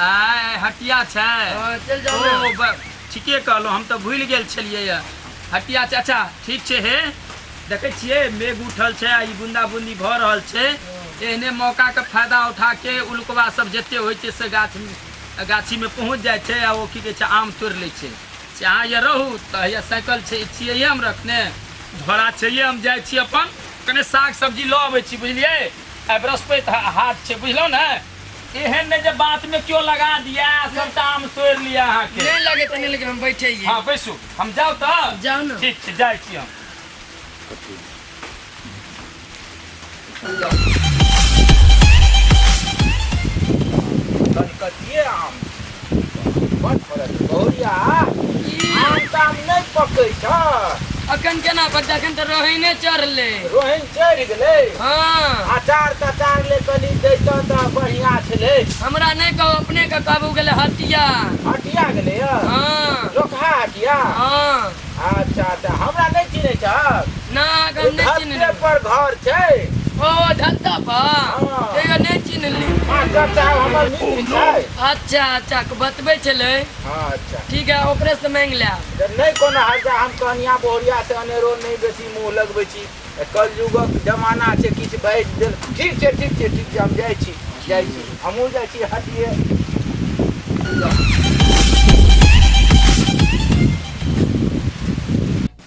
आय हटिया छै हाँ, चल ओ जाओ ना। ब- ठीके कहलहुँ हम तऽ भूलि गेल छलियै यऽ। हटिया छै अच्छा ठीक छै हे देखै छियै मेघ उठल छै आ ई बूंदा बूंदी भऽ रहल छै एहने मौकाके फायदा उठा के उल्कवा सब जते होइ छै से गाछ गाछीमे पहुँच जाइ छै आ ओ की कहै छै आम तोड़ि लै छै से अहाँ यऽ रहू तऽ हैया साइकिल छै छियै यऽ हम रखने झोरा छै यऽ हम जाइ छी अपन कने साग सब्जी लऽ अबै छी बुझलियै आइ बृहस्पति हा- हाट छै बुझलहुँ ने एहन नहि जे बात में क्यों लगा दिया सबटा आम तोड़ लिया अहाँ के नहीं लगे तो नहीं लेकिन हम बैठे ही हाँ बैसू हम जाओ तो जाओ ना ठीक छै जाइ छी हम कलकतिए आम बड़ फरक छै। गौरिया आम ताम नहि पकै छ अखन केना पर जखन तऽ रहै ने चढ़ले रोहन चढ़ि गेलै हँ अचार तचार ले कनी जैतऽ तऽ बढ़िआँ छलै हमरा नहि कहू अपने के कहबू गेलै हटिया हटिया गेलै यऽ हँ लोकहा हटिया हँ अच्छा अच्छा हमरा नहि चिन्है छहक ना आग हम नहि चिन्हली धरते पर घर छै ओ धत्ता पर हँ। तैयो नहि चिन्हली मास्टर साहब हमर मित्र छै अच्छा अच्छा के बतबै छलै हाँ अच्छा ठीक है ओकरे से मांगि ले तऽ नहि कोनो हर्जा हम कहनिया बहुरिया से अनेरो नहि बेसी मुँह लगबै छी तऽ कलयुगक जमाना छै किछु बाजि देल ठीक छै ठीक छै ठीक छै हम जाइ छी जाइ छी हमहूँ जाइ छी हटिए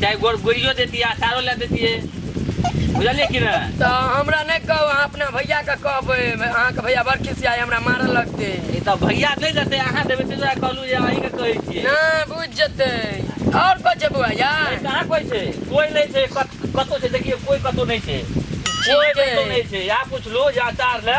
चाहे गोड़ गोड़ियो देती अचारो ला देती है बुझलिए कि ना तो हमरा नहीं कहो अहाँ अपना भैया के कहबे अहाँ के भैया बड़ खिसिया है, हमरा मारल लगते ई तऽ भैया नहि देते अहाँ देबै ताहि दुआरे कहलहुँ जे अहीं के कहै छियै ना बुझ जते और कुछ है बुआ या अरे कहाँ कोई छै कोई नहीं छै कत- कतौ छै देखिए कोई कतौ नहीं छै कोई ठीक है। कतौ नहीं छै यहाँ कुछ लो या अचार ला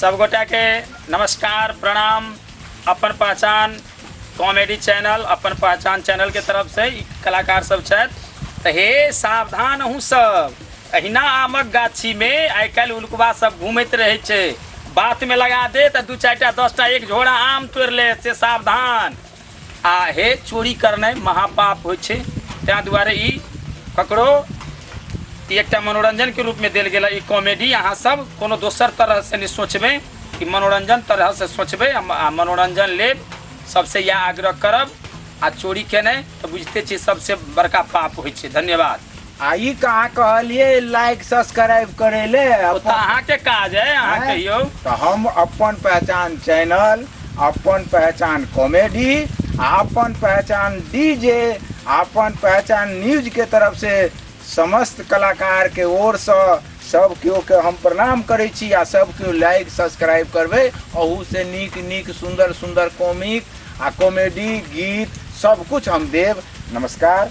सबगोटा के नमस्कार प्रणाम अपन पहचान कॉमेडी चैनल अपन पहचान चैनल के तरफ से ई कलाकार सब छथि तऽ हे सावधान अहूँ सब अहिना आमक गाछी मे आइ काल्हि उल्कबा सब घूमैत रहै छै बात मे लगा दे तऽ दू चारि टा दस टा एक झोरा आम तोड़ि ले से सावधान आ हे चोरी करनाइ महापाप होइ छै ताहि दुआरे ई ककरो ई एकटा मनोरञ्जनके रूपमे देल गेल ई कॉमेडी अहाँ सब कोनो दोसर तरहसँ नहि सोचबै ई मनोरञ्जन तरहसँ सोचबै आ म- आ मनोरञ्जन लेब सबसँ इएह आग्रह करब आ चोरी केनाइ तऽ बुझिते छी सबसँ बड़का पाप होइ छै धन्यवाद आ ई कहाँ कहलिए लाइक सब्सक्राइब करे ले ओ तऽ अहाँके काज है अहाँ हैं? कहियौ तऽ हम अपन पहचान चैनल अपन पहचान कॉमेडी आ अपन पहचान डीजे आ अपन पहचान न्यूज के तरफ से समस्त कलाकार के ओर से सब केओ के हम प्रणाम करै छी आ सब केओ लाइक सब्सक्राइब करबै अहू से नीक नीक सुंदर सुंदर कॉमिक आ कॉमेडी गीत सब कुछ हम देव नमस्कार